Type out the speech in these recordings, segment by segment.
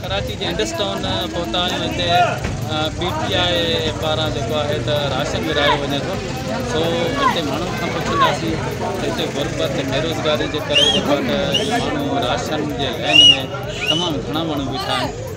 ڪراچي جي Indus town پهتا آهيون هتي پي ٽي آء پاران جيڪو آهي ته راشن ورهايو وڃي ٿو سو هتي ماڻهن کان پڇنداسين ته هتي غربت بيروزگاري جي ڪري جيڪو آهي ته ماڻهو راشن جي لائن ۾ تمام گهڻا ماڻهو بيٺا آهن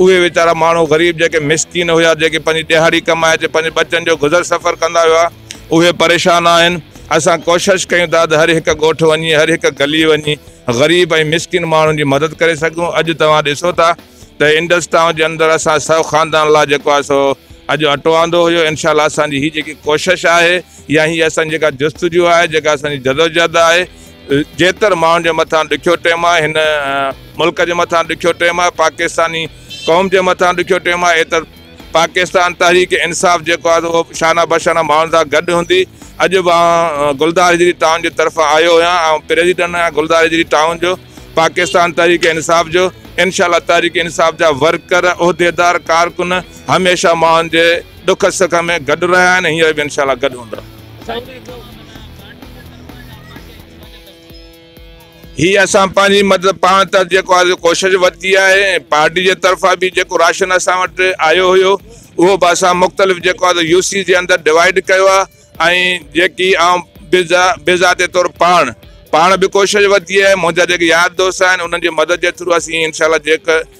اهي ويچارا ماڻهو غريب جيڪي مسڪين هيا جيڪي پنهنجي ڏهاڙي ڪمائي تي پنهنجي ٻچن جو گذر سفر ڪندا هيا اهي پريشان آهن اسان ڪوشش ڪيون ٿا ته هر هڪ ڳوٺ وڃي هر هڪ گلي وڃي غريب ۽ مسڪين ماڻهن جي مدد ڪري سگهون اڄ توهان ڏسو ٿا ته انڊس ٽائون جي اندر اسان سو خاندان لا جيڪو آهي سو اڄ اٽو آندو هيو انشاء الله اسان جي هي جيڪي ڪوشش آهي يا هي اسان جيڪا جستجو آهي جيڪا اسان جي جدوجهد آهي جيتر ماڻهن جي مٿان ڏکيو ٽيم آهي هن ملڪ جي مٿان ڏکيو ٽيم آهي پاڪستاني قوم جي مٿان ڏکيو ٽيم آهي ايتر پاڪستان تحريڪ انصاف جيڪو آهي اهو شانه بشانه ماڻهن سان گڏ هوندي اڄ به آئون گلدار هجري ٽائون جي طرفان آيو هيان آئون پريزيڊنٽ آهيان گلدار هجري ٽائون جو پاڪستان تحريڪ انصاف جو انشاء الله تحريڪ انصاف جا ورڪر عهديدار ڪارڪن هميشه ماڻهن جي ڏک سک ۾ گڏ رهيا آهن هينئر به انشاء الله گڏ هوندا هي اسان پنهنجي مدد پاڻ تحت جيڪو آهي سو ڪوشش ورتي آهي ۽ پارٽي جي طرفان به جيڪو راشن اسان وٽ آيو هيو اهو به اسان مختلف جيڪو آهي سو يو سي جي اندر ڊوائيڊ ڪيو آهي ۽ جيڪي آئون بذا بذاتي طور پاڻ پاڻ به ڪوشش ورتي آهي منهنجا جيڪي يار دوست آهن انهن جي مدد جي ٿرو اسين انشاء الله جيڪ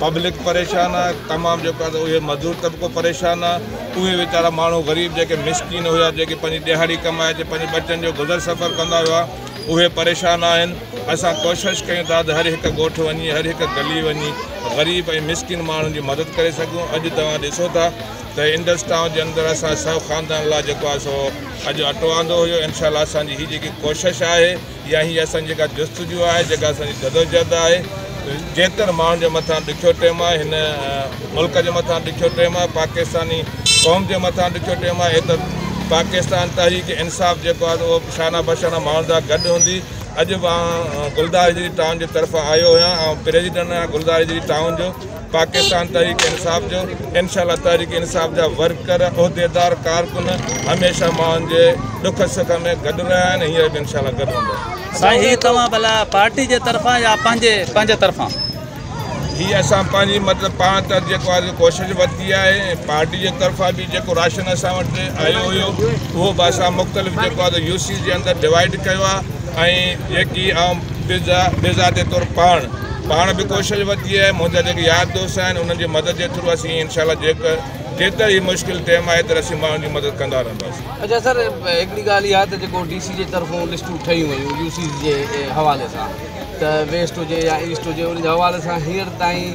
پبلڪ پريشان آهي تمام جيڪو آهي اهي مزدور طبقو پريشان آهي اهي ويچارا ماڻهو غريب جيڪي مسڪين هيا جيڪي پنهنجي ڏهاڙي ڪمائي اچي پنهنجي ٻچن جو گذر سفر ڪندا هيا اهي پريشان آهن اسان ڪوشش ڪيون ٿا ته هر هڪ ڳوٺ وڃي هر هڪ گلي وڃي غريب ۽ مسڪين ماڻهن جي مدد ڪري سگهون اڄ توهان ڏسو ٿا ته انڊس ٽائون جي اندر اسان سو خاندان لاء جيڪو آهي سو اڄ اٽو آندو هيو انشاء الله اسانجي هي جيڪي ڪوشش آهي اها هي اسان جي جيڪا جستجو آهي جيڪا اسان جي جدوجهد آهي جيتر ماڻهن جي مٿان ڏکيو ٽيم آهي هن ملڪ جي مٿان ڏکيو ٽيم آهي پاڪستاني قوم جي مٿان ڏکيو ٽيم آهي ايتر پاڪستان تحريڪ انصاف جيڪو آهي اهو شانه بشانه ماڻهن سان گڏ هوندي اڄ به آن گلدار جي ٽائون جي طرفان آيو هيان آن پريزيڊنٽ آهيان گلدار جي ٽائون جو پاڪستان تحريڪ انصاف جو انشاء الله تحريڪ انصاف جا ورڪر عهديدار ڪارڪن هميشه ماڻهن جي ڏک سک ۾ گڏ رهيا آهن هينئر به انشاء الله گڏ هوندا سائين هي توهان ڀلا پارٽي جي طرفان يا پنهنجي پنهنجي طرفان هي اسان پنهنجي مطلب پاڻ طرف جيڪو آهي ڪوشش ورتي آهي پارٽي جي طرفان به جيڪو راشن اسان وٽ آيو هيو اهو به اسان مختلف جيڪو آهي يو سي جي اندر ڊوائيڊ ڪيو آهي ۽ جيڪي آئون بي ذاتي طور پاڻ پاڻ به ڪوشش ورتي آهي منهنجا جيڪي يار دوست آهن انهن جي مدد جي ٿرو اسين انشاء الله جيڪ جيتر هي مشڪل ٽيم آهي تر اسين ماڻهن جي مدد ڪندا رهنداسين اچا سر هڪڙي ڳالهه اها ته جيڪو ڊي سي جي طرفون لسٽون ٺهيون ويون يو سي جي حوالي سان ته ويسٽ هجي يا ايسٽ هجي ان جي حوالي سان هينئر تائين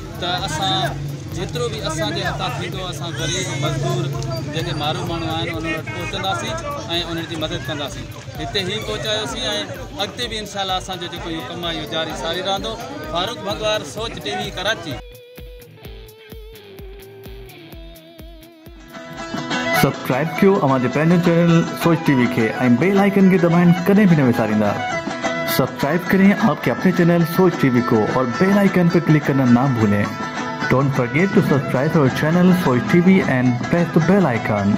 ته اسان جيترو به اسان جي هٿان ٿيندو اسان غريب مزدور جيڪي مارو ماڻهو آهن انهن وٽ پهچنداسين ۽ انهن جي مدد ڪنداسين هتي هي پهچايوسين ۽ اڳتي به انشاء الله اسان جو جيڪو اهو ڪم آهي اهو جاري ساري رهندو فاروق ڀڳوار Soch T V Karachi subscribe ڪيو اوهان جي پنهنجي چينل سوچ ٽي وي کي ۽ بيل آئيڪن کي دٻائڻ ڪڏهن به نه وساريندا سبسڪرائب ڪرين آپ ڪي اپني چينل سوچ ٽي وي ڪو اور بيل آئيڪن پي ڪلڪ ڪرنا نا ڀولين ڊونٽ فرگيٽ ٽو سبسڪرائب اور channel Soch T V and press the bell icon.